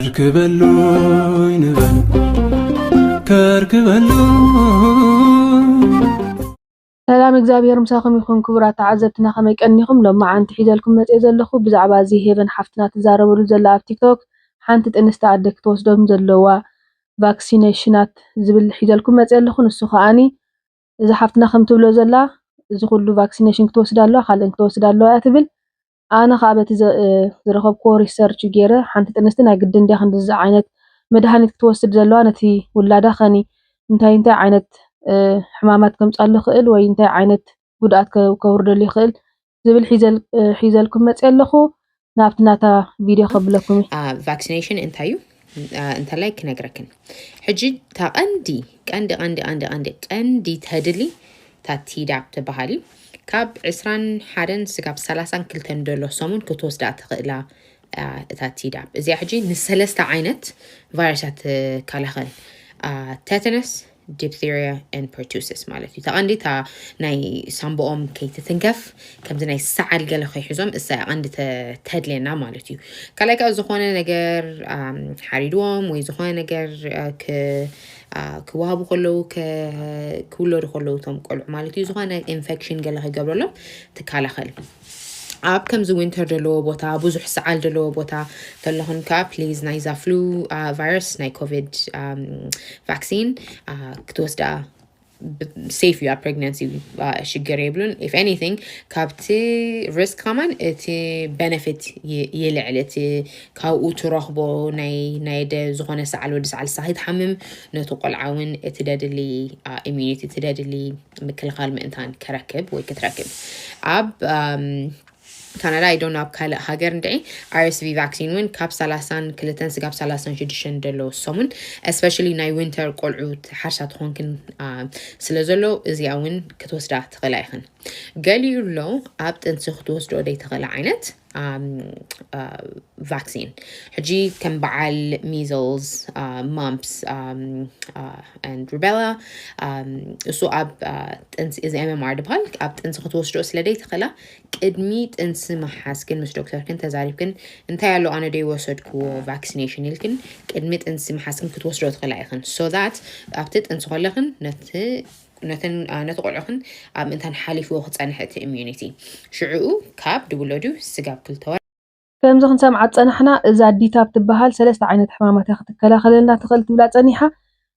ከርክበሉይ ንበል ከርክበሉ ሰላም እግዚኣብሔር ምሳኹም ይኹን ክቡራት ተዓዘብትና ከመይ ቀኒኹም ሎም መዓንቲ ሒዘልኩም መፅኤ ዘለኹ ብዛዕባ እዚ ሄቨን ሓፍትና ትዛረበሉ ዘላ ኣብ ቲክቶክ ሓንቲ ጥንስቲ ኣደ ክትወስዶም ዘለዋ ቫክሲነሽናት ዝብል ሒዘልኩም መፅኤ ኣለኹ ንሱ ከዓኒ እዚ ሓፍትና ከም ትብሎ ዘላ እዚ ኩሉ ቫክሲነሽን ክትወስድ ኣለዋ ካልእን ክትወስድ ኣለዋ እያ ትብል ኣነ ከኣ በቲ ዝረኸብክዎ ሪሰርች ጌረ ሓንቲ ጥንስቲ ናይ ግድን ድያ ክንድዚ ዓይነት መድሃኒት ክትወስድ ዘለዋ ነቲ ውላዳ ከኒ እንታይ እንታይ ዓይነት ሕማማት ከምጻሉ ይኽእል ወይ እንታይ ዓይነት ጉድኣት ከውርደሉ ይኽእል ዝብል ሒዘልኩም መጽየ ኣለኹ ናብቲ ናታ ቪድዮ ከብለኩም እዩ ቫክሲኔሽን እንታይ እዩ እንተላይ ክነግረክን ሕጂ እታ ቀንዲ ቀንዲ ቀንዲ ቀንዲ ቀንዲ ቀንዲ ተድሊ እታ ቲዳፕ ትበሃል እዩ ካብ ዕስራን ሓደን ስጋብ ሰላሳን ክልተን ደሎ ሰሙን ክትወስዳ ትኽእላ እታ ቲዳፕ እዚኣ ሕጂ ንሰለስተ ዓይነት ቫይረሳት ትከላኸል ተተነስ ዲፕተርያ ን ፐርቱስስ ማለት እዩ ተቐንዲ እታ ናይ ሳምቦኦም ከይትትንከፍ ከምዚ ናይ ሰዓል ገለ ከይሕዞም እሳ ቀንዲ ተድልየና ማለት እዩ ካልኣይ ከዓ ዝኾነ ነገር ሓሪድዎም ወይ ዝኾነ ነገር ክወሃቡ ከለዉ ክውለዱ ከለዉ እቶም ቆልዑ ማለት እዩ ዝኾነ ኢንፌክሽን ገለ ክገብረሎም ትከላኸል ኣብ ከምዚ ዊንተር ደለዎ ቦታ ብዙሕ ሰዓል ደለዎ ቦታ ከለኹን ከኣ ፕሊዝ ናይዛ ፍሉ ቫይረስ ናይ ኮቪድ ቫክሲን ክትወስዳ ሴፍ እዩ ኣብ ፕሬግናንሲ ሽግር የብሉን ኢፍ ኤኒቲንግ ካብቲ ሪስክ ከማን እቲ በነፊት ይልዕል እቲ ካብኡ ትረኽቦ ናይ ደ ዝኾነ ሰዓል ወዲ ሰዓል ሳኺ ትሓምም ነቲ ቆልዓ እውን እቲ ደድሊ ኢሚኒቲ እቲ ደድሊ ምክልኻል ምእንታን ከረክብ ወይ ክትረክብ ኣብ ካናዳ ኣይ ዶንት ኣብ ካልእ ሃገር እንድዒ ኣርስቪ ቫክሲን እውን ካብ ሰላሳን ክልተን ስጋብ ሰላሳን ሽዱሽተን ደሎ ሰሙን እስፔሻሊ ናይ ዊንተር ቆልዑ ሓርሳ ትኾንክን ስለ ዘሎ እዚኣ እውን ክትወስዳ ትኽእላ ኢኽን ገሊኡ ኣሎ ኣብ ጥንሲ ክትወስዶ ደይ ትኽእላ ዓይነት ቫክሲን ሕጂ ከም በዓል ሚዝልስ ማምፕስ ሩቤላ እሱ ኣብ ጥንሲ እዚ ኤምኤምኣር ድበሃል ኣብ ጥንሲ ክትወስዶ ስለ ዘይትኽእላ ቅድሚ ጥንሲ ምሓዝ ግን ምስ ዶክተርክን ተዛሪብክን እንታይ ኣሎ ኣነ ዶ ይወሰድክዎ ቫክሲኔሽን ኢልክን ቅድሚ ጥንሲ ምሓዝክን ክትወስዶ ትኽእላ ኢኽን ሶ ዛት ኣብቲ ጥንሲ ከለኽን ነቲ ነተን ነቲ ቆልዑኽን ኣብ ምእንታን ሓሊፍዎ ክጸንሕ እቲ ኢሚዩኒቲ ሽዕኡ ካብ ድብሎዱ ስጋብ ክልተ ወር ከምዚ ክንሰምዓ ዝጸናሕና እዛ ዲታፕ ትበሃል ሰለስተ ዓይነት ሕማማት እያ ክትከላኸለልና ትኽእል ትብላ ጸኒሓ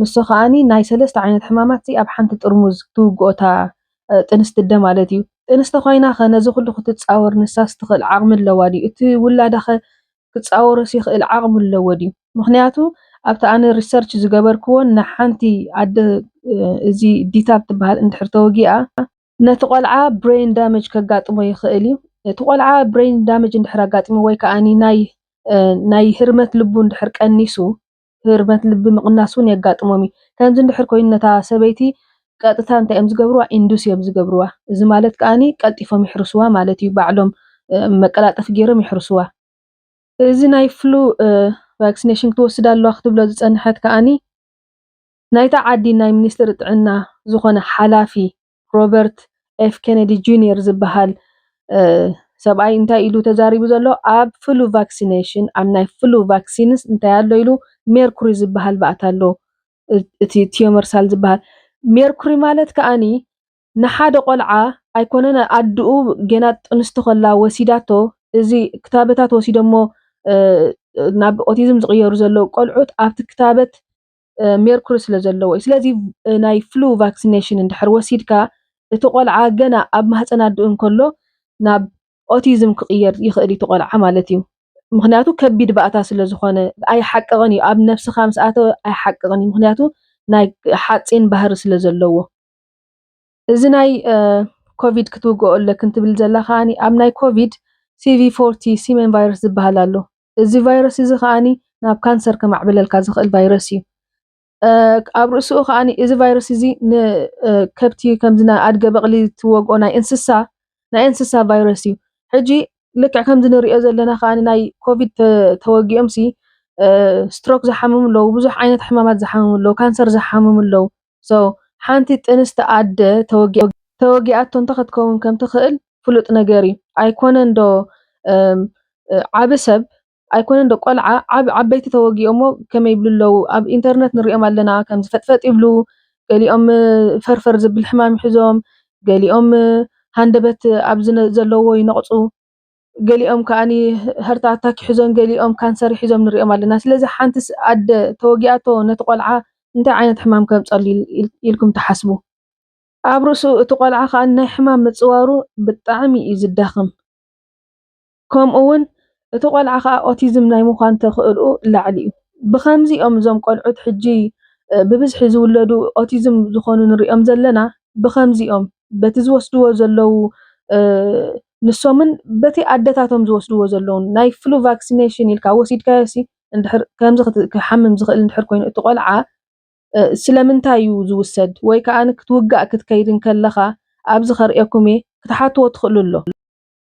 ንሱ ከኣኒ ናይ ሰለስተ ዓይነት ሕማማት ሲ ኣብ ሓንቲ ጥርሙዝ ክትውግኦ እታ ጥንስቲ እደ ማለት እዩ ጥንስቲ ኳይናኸ ነዚ ኩሉ ክትጻወር ንሳስ ትኽእል ዓቕሚ ኣለዋ ድዩ እቲ ውላዳኸ ክጻወሮስ ይኽእል ዓቅሚ ኣለዎ ድዩ ምኽንያቱ ኣብቲ ኣነ ሪሰርች ዝገበርክዎ ንሓንቲ ኣደ እዚ ዲታብ ትበሃል እንድሕር ተወጊኣ ነቲ ቆልዓ ብረይን ዳመጅ ከጋጥሞ ይኽእል እዩ እቲ ቆልዓ ብረይን ዳመጅ እንድሕር ኣጋጢምዎ ወይ ከኣ ናይ ናይ ህርመት ልቡ እንድሕር ቀኒሱ ህርመት ልቢ ምቕናስ እውን የጋጥሞም እዩ። ከምዚ እንድሕር ኮይኑ ነታ ሰበይቲ ቀጥታ እንታይ እዮም ዝገብርዋ ኢንዱስ እዮም ዝገብርዋ እዚ ማለት ከኣ ቀልጢፎም ይሕርስዋ ማለት እዩ ባዕሎም መቀላጠፊ ገይሮም ይሕርስዋ። እዚ ናይ ፍሉ ቫክሲነሽን ክትወስድ ኣለዋ ክትብሎ ዝጸንሐት ከኣ ናይታ ዓዲ ናይ ሚኒስትሪ ጥዕና ዝኾነ ሓላፊ ሮበርት ኤፍ ኬነዲ ጁንየር ዝበሃል ሰብኣይ እንታይ ኢሉ ተዛሪቡ ዘሎ ኣብ ፍሉ ቫክሲነሽን ኣብ ናይ ፍሉ ቫክሲንስ እንታይ ኣሎ ኢሉ ሜርኩሪ ዝበሃል ባእታ ኣሎ እቲ ቲዮመርሳል ዝበሃል ሜርኩሪ ማለት ከኣኒ ንሓደ ቆልዓ ኣይኮነን ኣድኡ ጌና ጥንስቲ ከላ ወሲዳቶ እዚ ክታበታት ወሲዶሞ ናብ ኦቲዝም ዝቕየሩ ዘለዉ ቆልዑት ኣብቲ ክታበት ሜርኩሪ ስለ ዘለዎ እዩ። ስለዚ ናይ ፍሉ ቫክሲነሽን እንድሕር ወሲድካ እቲ ቆልዓ ገና ኣብ ማህፀን ኣድኡ እንከሎ ናብ ኦቲዝም ክቕየር ይኽእል እዩ እቲ ቆልዓ ማለት እዩ። ምኽንያቱ ከቢድ ባእታ ስለ ዝኾነ ኣይሓቅቕን እዩ ኣብ ነብስኻ ምስ ኣተወ ኣይሓቅቕን እዩ ምኽንያቱ ናይ ሓፂን ባህሪ ስለ ዘለዎ። እዚ ናይ ኮቪድ ክትውግኦ ኣለክን ትብል ዘላ ከኣ ኣብ ናይ ኮቪድ ሲቪ ፎርቲ ሲመን ቫይረስ ዝበሃል ኣሎ እዚ ቫይረስ እዚ ከኣ ናብ ካንሰር ከማዕብለልካ ዝኽእል ቫይረስ እዩ። ኣብ ርእሲኡ ከኣ እዚ ቫይረስ እዚ ንከብቲ ከምዚ ናይ ኣድገ በቕሊ ትወግኦ ናይ እንስሳ ናይ እንስሳ ቫይረስ እዩ። ሕጂ ልክዕ ከምዚ ንርእዮ ዘለና ከኣ ናይ ኮቪድ ተወጊኦምሲ ስትሮክ ዝሓመሙ ኣለዉ፣ ብዙሕ ዓይነት ሕማማት ዝሓመሙ ኣለዉ፣ ካንሰር ዝሓመሙ ኣለዉ። so ሓንቲ ጥንስቲ ኣደ ተወጊኣቶ እንተኸትከውን ከምትኽእል ፍሉጥ ነገር እዩ ኣይኮነን ዶ ዓቢ ሰብ ኣይኮነን ዶ ቆልዓ ዓበይቲ ተወጊኦሞ ከመይ ይብሉ ኣለው ኣብ ኢንተርነት ንሪኦም ኣለና ከምዚ ፈጥፈጥ ይብሉ ገሊኦም ፈርፈር ዝብል ሕማም ይሕዞም ገሊኦም ሃንደበት ኣብዚ ዘለዎ ይነቕፁ። ገሊኦም ከኣ ሃርት ኣታክ ሒዞም ገሊኦም ካንሰር ሒዞም ንርእዮም ኣለና ስለዚ ሓንቲ ኣደ ተወጊኣቶ ነቲ ቆልዓ እንታይ ዓይነት ሕማም ከምጸሉ ኢልኩም ትሓስቡ ኣብ ርእሱ እቲ ቆልዓ ከኣ ናይ ሕማም ምጽዋሩ ብጣዕሚ እዩ ዝዳኸም ከምኡ ውን እቲ ቆልዓ ከኣ ኦቲዝም ናይ ምዃን ተኽእልኡ ላዕሊ እዩ ብኸምዚ እዮም እዞም ቆልዑት ሕጂ ብብዝሒ ዝውለዱ ኦቲዝም ዝኾኑ ንርእዮም ዘለና ብኸምዚ እዮም በቲ ዝወስድዎ ዘለዉ ንሶምን በቲ ኣደታቶም ዝወስድዎ ዘለዉን ናይ ፍሉ ቫክሲነሽን ኢልካ ወሲድካዮሲ እንድሕር ከምዚ ክሓምም ዝኽእል እንድሕር ኮይኑ እቲ ቆልዓ ስለምንታይ እዩ ዝውሰድ ወይ ከኣ ክትውጋእ ክትከይድ እንከለኻ ኣብዚ ከርእየኩም እየ ክትሓትዎ ትኽእሉ ኣሎ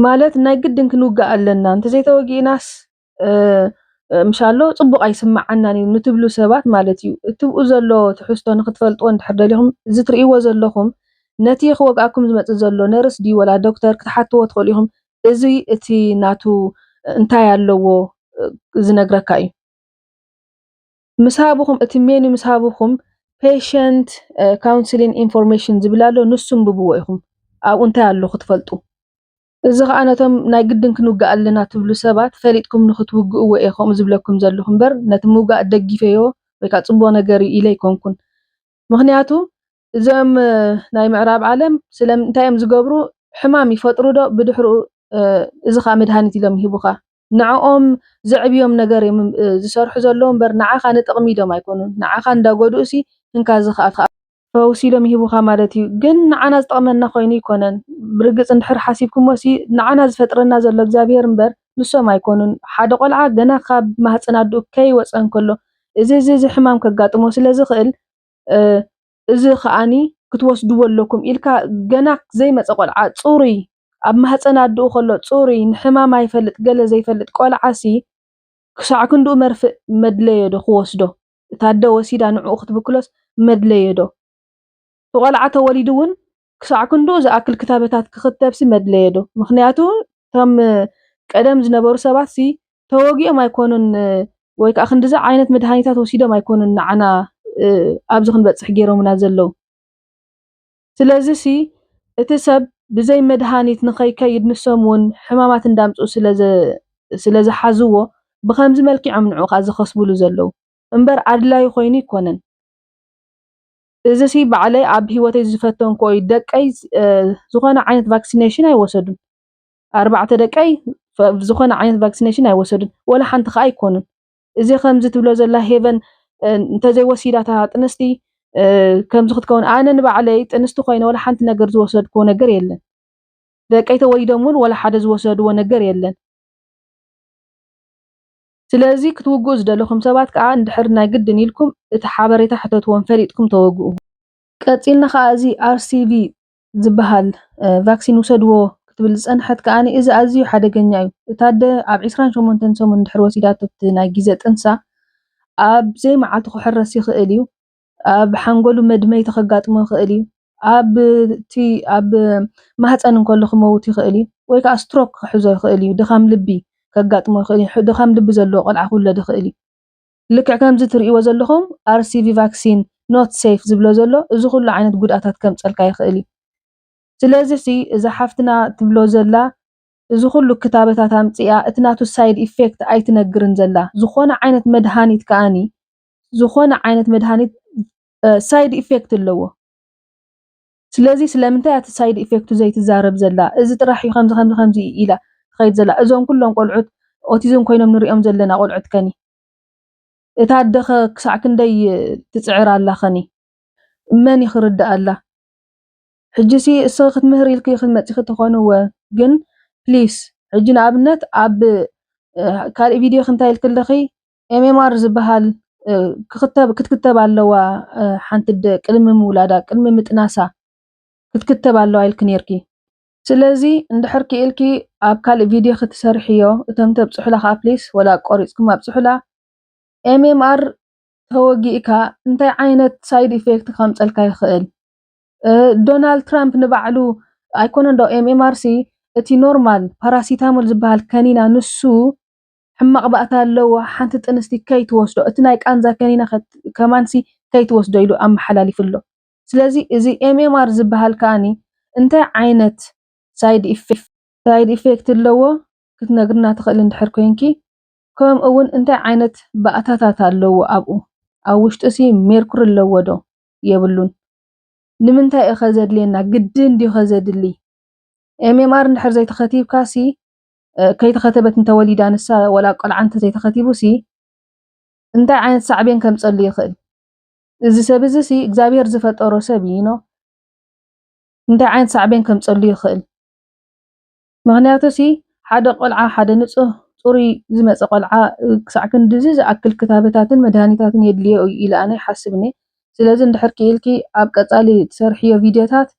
ማለት ናይ ግድን ክንውጋእ ኣለና እንተዘይተወጊእናስ ምሻሎ ጽቡቕ ኣይስምዓናን እዩ ንትብሉ ሰባት ማለት እዩ። እትብኡ ዘሎ ትሕዝቶ ንክትፈልጥዎ እንድሕር ደሊኹም እዚ ትርእይዎ ዘለኹም ነቲ ክወግኣኩም ዝመጽእ ዘሎ ነርስ ድዩ ወላ ዶክተር ክትሓትዎ ትኽእሉ ኢኹም እዚ እቲ ናቱ እንታይ ኣለዎ ዝነግረካ እዩ። ምስ ሃብኹም እቲ ሜኑ ምስ ሃብኹም ፔሸንት ካውንስሊን ኢንፎርሜሽን ዝብል ኣሎ ንሱ እንብብዎ ኢኹም ኣብኡ እንታይ ኣሎ ክትፈልጡ። እዚ ከኣ ነቶም ናይ ግድን ክንውጋእ ኣለና ትብሉ ሰባት ፈሊጥኩም ንኽትውግእዎ እየ ከምኡ ዝብለኩም ዘለኹ እምበር ነቲ ምውጋእ ደጊፈዮ ወይ ከኣ ጽቡቕ ነገር እዩ ኢለ ኣይኮንኩን ምኽንያቱ እዚኦም ናይ ምዕራብ ዓለም ስለ እንታይ እዮም ዝገብሩ ሕማም ይፈጥሩ ዶ ብድሕርኡ እዚ ከኣ መድሃኒት ኢሎም ይህቡኻ ንዕኦም ዘዕብዮም ነገር እዮም ዝሰርሑ ዘለዉ እምበር ንዓኻ ንጥቕሚ ኢሎም ኣይኮኑን ንዓኻ እንዳጎድኡሲ እንካ እዚ ክኣ ፈውሲ ኢሎም ይህቡኻ ማለት እዩ ግን ንዓና ዝጠቕመና ኮይኑ ኣይኮነን ብርግጽ እንድሕር ሓሲብኩሞሲ ንዓና ዝፈጥረና ዘሎ እግዚኣብሄር እምበር ንሶም ኣይኮኑን ሓደ ቆልዓ ገና ካብ ማህጸን ኣድኡ ከይወጸ እንከሎ እዚ እዚ እዚ ሕማም ከጋጥሞ ስለዝኽእል እዚ ከኣ ክትወስድዎ ኣለኩም ኢልካ ገና ዘይመጸ ቆልዓ ጹሩይ ኣብ ማህጸን ኣድኡ ከሎ ጹሩይ ንሕማም ኣይፈልጥ ገለ ዘይፈልጥ ቆልዓሲ ክሳዕ ክንድኡ መርፍእ መድለዮዶ ክወስዶ እታ ኣደ ወሲዳ ንዕኡ ክትብክሎስ መድለዮዶ እቲ ቆልዓ ተወሊዱ ውን ክሳዕ ክንድኡ ዝኣክል ክታበታት ክኽተብሲ መድለየዶ? ምኽንያቱ እቶም ቀደም ዝነበሩ ሰባትሲ ተወጊኦም ኣይኮኑን ወይ ከኣ ክንድዚ ዓይነት መድሃኒታት ወሲዶም ኣይኮኑን ንዓና ኣብዚ ክንበጽሕ ጌሮምና ዘለዉ። ስለዚሲ እቲ ሰብ ብዘይ መድሃኒት ንኸይከይድ ንሶም እውን ሕማማት እንዳምጽኡ ስለ ዝሓዝዎ ብኸምዚ መልኪዕ እዮም ንዕኡ ከኣ ዝኸስብሉ ዘለዉ እምበር ኣድላዩ ኮይኑ ኣይኮነን። እዚ ሲ ባዕለይ ኣብ ሂወተይ ዝፈተንክዎ እዩ ደቀይ ዝኮነ ዓይነት ቫክስነሽን ኣይወሰዱን ኣርባዕተ ደቀይ ዝኮነ ዓይነት ቫክስነሽን ኣይወሰዱን ወላ ሓንቲ ከኣ ኣይኮኑን እዚ ከምዚ ትብሎ ዘላ ሄቨን እንተዘይ ወሲዳ እታ ጥንስቲ ከምዚ ክትከውን ኣነ ንባዕለይ ጥንስቲ ኮይነ ወላ ሓንቲ ነገር ዝወሰድክዎ ነገር የለን ደቀይ ተወሊዶም እውን ወላ ሓደ ዝወሰድዎ ነገር የለን ስለዚ ክትውግኡ ዝደለኹም ሰባት ከኣ እንድሕር ናይ ግድን ኢልኩም እቲ ሓበሬታ ሕተትዎም ፈሊጥኩም ተወግኡ። ቀጺልና ከኣ እዚ RCV ዝበሃል ቫክሲን ውሰድዎ ክትብል ዝጸንሐት ከኣ እዚ ኣዝዩ ሓደገኛ እዩ። እታ ኣደ ኣብ ዕስራን ሸሞንተን ሰሙን እንድሕር ወሲዳቶ እቲ ናይ ጊዘ ጥንሳ ኣብ ዘይመዓልቱ ክሕረስ ይኽእል እዩ። ኣብ ሓንጎሉ መድመይቲ ከጋጥሞ ይኽእል እዩ። ኣብ እቲ ኣብ ማህፀን እንከሎ ክመውት ይኽእል እዩ። ወይ ከዓ ስትሮክ ክሕዞ ይኽእል እዩ። ድኻም ልቢ ከጋጥሞ ይኽእል እዩ። ድኻም ልቢ ዘለዎ ቆልዓ ክውለድ ይኽእል እዩ። ልክዕ ከምዚ ትሪእዎ ዘለኹም RCV ቫክሲን ኖት ሰይፍ ዝብሎ ዘሎ እዚ ኩሉ ዓይነት ጉድኣታት ከምፀልካ ይኽእል እዩ። ስለዚ ሲ እዛ ሓፍትና ትብሎ ዘላ እዚ ኩሉ ክታበታት ኣምፂኣ እቲ ናቱ ሳይድ ኢፌክት ኣይትነግርን ዘላ። ዝኾነ ዓይነት መድሃኒት ከኣኒ ዝኾነ ዓይነት መድሃኒት ሳይድ ኢፌክት ኣለዎ። ስለዚ ስለምንታይ እቲ ሳይድ ኢፌክቱ ዘይትዛረብ ዘላ እዚ ጥራሕ እዩ ከምዚ ከምዚ ከምዚ እዩ ኢላ ትኸይድ ዘላ እዞም ኩሎም ቆልዑት ኦቲዝም ኮይኖም ንሪኦም ዘለና ቆልዑት ከኒ እታ ኣደ ኸ ክሳዕ ክንደይ ትፅዕር ኣላ ኸኒ መን እዩ ክርድኣላ ሕጂሲ እስኺ ክትምህር ኢልኪ ክትመፂኺ ተኾንወ ግን ፕሊስ ሕጂ ንኣብነት ኣብ ካልእ ቪድዮ ክንታይ ኢልኪ ኣለኺ ኤምኤምኣር ዝበሃል ክኽተብ ክትክተብ ኣለዋ ሓንቲ ኣደ ቅድሚ ምውላዳ ቅድሚ ምጥናሳ ክትክተብ ኣለዋ ኢልኪ ነይርኪ። ስለዚ እንድሕር ክኢልኪ ኣብ ካልእ ቪድዮ ክትሰርሕዮ እቶም ተብጽሑላ ከኣ ፕሊስ ወላ ቆሪጽኩም ኣብጽሑላ። ኤምኤምኣር ተወጊእካ እንታይ ዓይነት ሳይድ ኢፌክት ከምጸልካ ይኽእል። ዶናልድ ትራምፕ ንባዕሉ ኣይኮነን ዶ ኤምኤምኣርሲ እቲ ኖርማል ፓራሲታሞል ዝበሃል ከኒና ንሱ ሕማቅ ባእታ ኣለዎ ሓንቲ ጥንስቲ ከይትወስዶ እቲ ናይ ቃንዛ ከኒና ከማንሲ ከይትወስዶ ኢሉ ኣመሓላሊፉ ኣሎ ስለዚ እዚ MMR ዝብሃል ከኣ እንታይ ዓይነት ሳይድ ኢፌክት ኣለዎ ክትነግርና ትኽእሊ እንድሕር ኮይንኪ ከምኡ ውን እንታይ ዓይነት ባእታታት ኣለዎ ኣብኡ ኣብ ውሽጡሲ ሜርኩሪ ኣለዎ ዶ የብሉን ንምንታይ እዩ ከ ዘድልየና ግድን ድዩ ከ ዘድሊ MMR እንድሕር ዘይተኸቲብካሲ ከይተኸተበት እንተወሊዳ ንሳ ወላ ቆልዓ እንተዘይተኸቲቡሲ እንታይ ዓይነት ሳዕቤን ከምፀሉ ይኽእል? እዚ ሰብ እዚ ሲ እግዚኣብሔር ዝፈጠሮ ሰብ እዩ ኖ እንታይ ዓይነት ሳዕቤን ከምፀሉ ይኽእል? ምክንያቱ ሲ ሓደ ቆልዓ ሓደ ንፁህ ፅሩይ ዝመፀ ቆልዓ ክሳዕ ክንድዚ ዝኣክል ክታበታትን መድሃኒታትን የድልዮ እዩ ኢለ ኣነ ይሓስብ እኔ ስለዚ እንድሕር ክኢልኪ ኣብ ቀፃሊ ትሰርሕዮ ቪድዮታት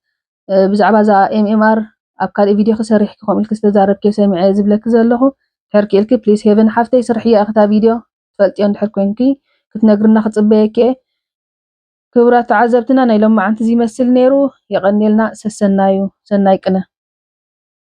ብዛዕባ እዛ MMR ኣብ ካልእ ቪድዮኺ ሰሪሕኪ ከምኡ ኢልኪ ዝተዛረብክዮ ሰሚዐ እየ ዝብለኪ ዘለኹ ድሕር ክኢልኪ ፕሊስ ሄቨን ሓፍተይ ስርሕዮ ኢኺ እታ ቪድዮ ትፈልጥዮ እንድሕር ኮንኪ ክትነግርና ክጽበየኪ እየ ክብራት ተዓዘብትና ናይ ሎማዓንቲ እዚ ይመስል ነይሩ የቀንየልና ሰሰናዩ ሰናይ ቅነ።